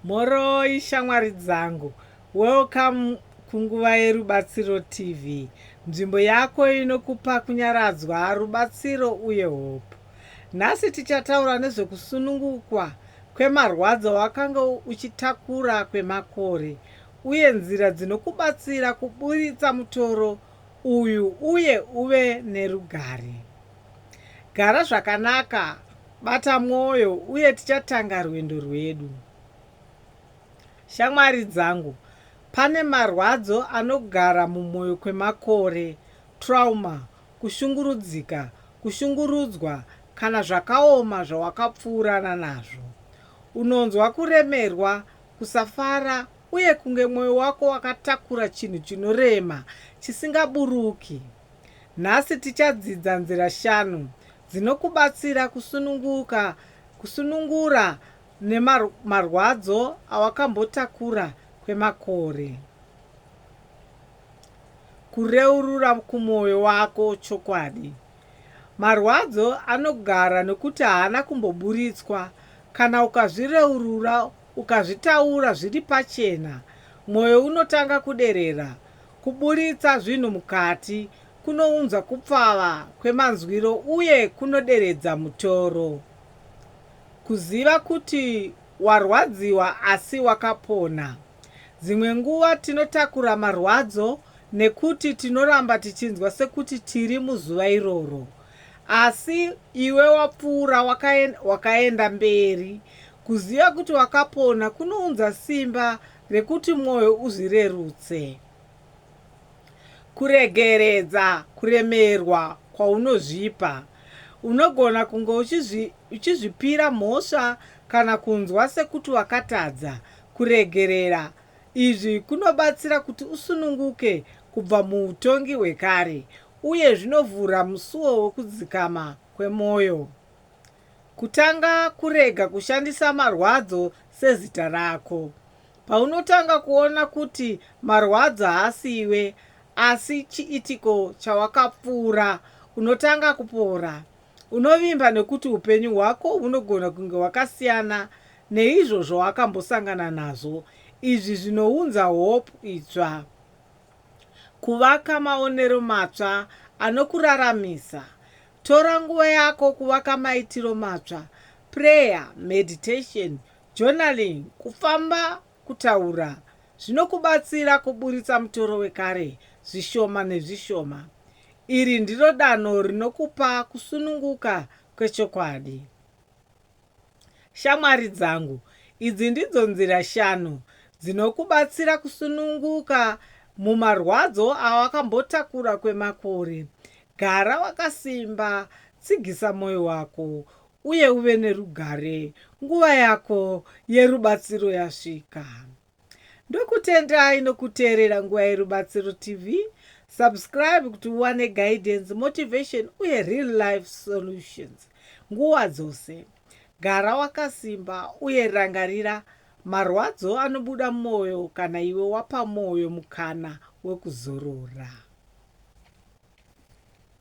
Mhoroi shamwari dzangu, welcome kunguva yeRubatsiro TV, nzvimbo yako inokupa kunyaradzwa, rubatsiro uye hope. Nhasi tichataura nezvekusunungukwa kwemarwadzo awakanga uchitakura kwemakore uye nzira dzinokubatsira kuburitsa mutoro uyu uye uve nerugare. Gara zvakanaka Bata mwoyo uye tichatanga rwendo rwedu. Shamwari dzangu, pane marwadzo anogara mumwoyo kwemakore, trauma, kushungurudzika, kushungurudzwa, kana zvakaoma zvawakapfuurana nazvo. Unonzwa kuremerwa, kusafara, uye kunge mwoyo wako wakatakura chinhu chinorema chisingaburuki. Nhasi tichadzidza nzira shanu dzinokubatsira kusununguka, kusunungura marwadzo awakambotakura kwemakore, kureurura kumwoyo wako chokwadi. Marwadzo anogara nokuti haana kumboburitswa. Kana ukazvireurura, ukazvitaura zviri pachena, mwoyo unotanga kuderera, Kuburitsa zvinhu mukati kunounza kupfava kwemanzwiro uye kunoderedza mutoro. Kuziva kuti warwadziwa asi wakapona. Dzimwe nguva tinotakura marwadzo nekuti tinoramba tichinzwa sekuti tiri muzuva iroro. Asi iwe wapfuura wakaenda mberi. Kuziva kuti wakapona kunounza simba Rekuti mwoyo uzvirerutse. Kuregeredza kuremerwa kwaunozvipa. Unogona kunge uchizvipira mhosva kana kunzwa sekuti wakatadza. Kuregerera izvi kunobatsira kuti usununguke kubva muutongi hwekare uye zvinovhura musuo wekudzikama kwemwoyo. Kutanga kurega kushandisa marwadzo sezita rako. Paunotanga kuona kuti marwadzo haasi iwe asi chiitiko chawakapfuura, unotanga kupora. Unovimba nekuti upenyu hwako hunogona kunge hwakasiyana neizvo zvawakambosangana nazvo. Izvi zvinounza hope itsva. Kuvaka maonero matsva anokuraramisa. Tora nguva yako kuvaka maitiro matsva, prayer, meditation, journaling, kufamba, kutaura, zvinokubatsira kuburitsa mutoro wekare zvishoma nezvishoma. Iri ndiro danho rinokupa kusununguka kwechokwadi. Shamwari dzangu, idzi ndidzo nzira shanu dzinokubatsira kusununguka mumarwadzo awakambotakura kwemakore. Gara wakasimba, tsigisa mwoyo wako, uye uve nerugare. Nguva yako yerubatsiro yasvika. Ndokutendai nokuteerera Nguva Yerubatsiro TV. Subscribe kuti uwane guidance, motivation uye real life solutions nguva dzose. Gara wakasimba uye rangarira marwadzo anobuda mumwoyo kana iwe wapa mwoyo mukana wekuzorora.